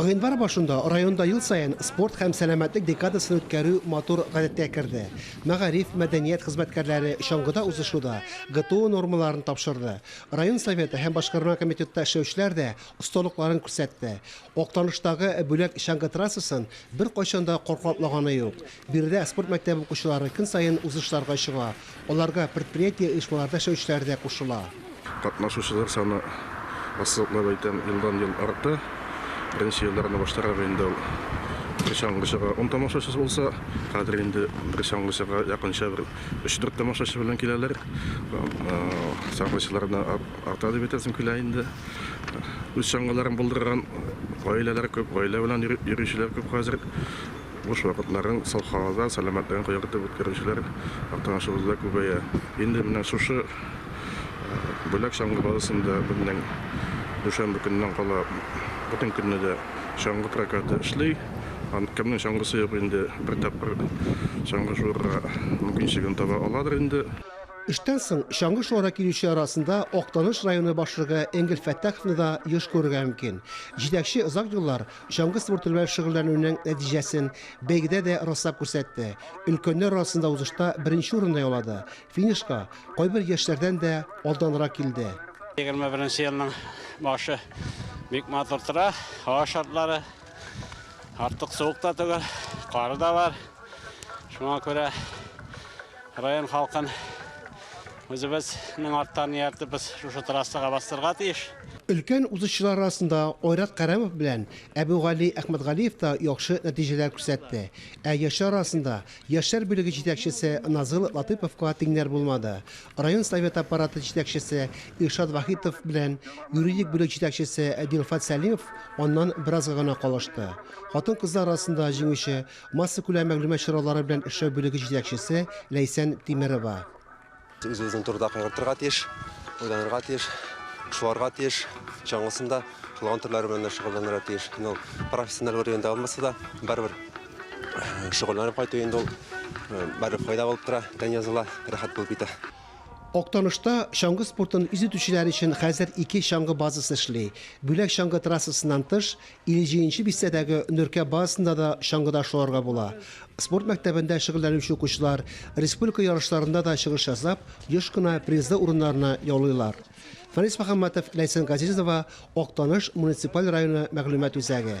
Гыйнвар башында районда ел саен спорт һәм сәламәтлек декадасын үткәрү матур гадәткә керде. Мәгариф, мәдәният хезмәткәрләре чаңгыда узышуда ГТО нормаларын тапшырды. Район Советы һәм башкарма комитетта эшләүчеләр дә осталыкларын күрсәтте. Актаныштагы Бүләк чаңгы трассасын беркайчан да катлатмаганы юк. Биредә спорт мәктәбе укучылары көн саен узышларга чыга, аларга предприятие, оешмаларда эшләүчеләр дә кушыла. Катнашучылар саны ассызыклап әйтәм, елдан-ел арта. Беренче елларны баштарак инде ул бер чаңгычыга ун тамашачы булса, хәзер инде бер чаңгычыга якынча бер өч-дүрт тамашачы белән киләләр. Чаңгычылар да арта дип әйтәсем килә инде. Үз чаңгыларын булдырган гаиләләр күп, гаилә белән йөрүчеләр күп хәзер. Буш вакытларын саф һавада, сәламәтлеген кыяр итеп үткәрүчеләр Актанашыбызда күбәя. Инде менә шушы Бүләк чаңгы базасында бүгеннән дүшәмбе көненнән кала бөтен көнне дә чаңгы прокаты эшли. Кемнең чаңгысы юк инде, бер тапкыр чаңгы шуырга мөмкинчелеген таба аладыр инде. Эштән соң чаңгы шуара килүчеләр арасында Актаныш районы башлыгы Энгель Фәттаховны да еш күрергә мөмкин. Җитәкче озак еллар Чаңгы спорты белән шөгыльләнүнең нәтиҗәсен бәйгедә дә раслап күрсәтте. Өлкәннәр арасында узышта беренче урында яулады. Финишка кайбер яшьләрдән дә алданрак килде. 21 елның башы бик матур тора. Һава шартлары артык суык та түгел, кары да бар. Шуңа күрә район халкын үзебезнең арттан ияртеп без шушы трассага бастырырга тиеш. Өлкән узышчылар арасында Айрат Кәрамов белән Әбүгали Әхмәтгалиев та яхшы нәтиҗәләр күрсәтте. Ә яшьләр арасында яшьләр бүлеге җитәкчесе Назыйл Латыйповка тиңнәр булмады. Район Совет аппараты җитәкчесе Илшат Вахитов белән юридик бүлек җитәкчесе Дилфат Сәлимов аннан беразга гына калышты. Хатын-кызлар арасында җиңүче массакүләм мәгълүмат чаралары белән эшләү бүлеге җитәкчесе Ләйсән Тимерова. Үз-үзең турыда кайгыртырга тиеш, уйланырга тиеш, шуарга тиеш, чаңгысын да, кылган төрләре белән дә шөгыльләнергә тиеш. Инде ул профессиональ уровеньда алмаса да, барыбер э, шөгыльләнеп кайту инде ул э, барыбер файда булып тора, тән языла, рәхәт булып китә. Актанышта чаңгы спортын үз итүчеләр өчен хәзер ике чаңгы базасы эшли. Бүләк чаңгы трассасыннан тыш, 50 нче бистәдәге Нөркә базасында да чаңгыда шуарга була. Спорт мәктәбендә шөгыльләнүче укучылар республика ярышларында да чыгыш ясап, еш кына призлы урыннарны яулыйлар. Фәнис Мөхәммәтов, Ләйсән Газизова, Актаныш муниципаль районы мәгълүмат үзәге.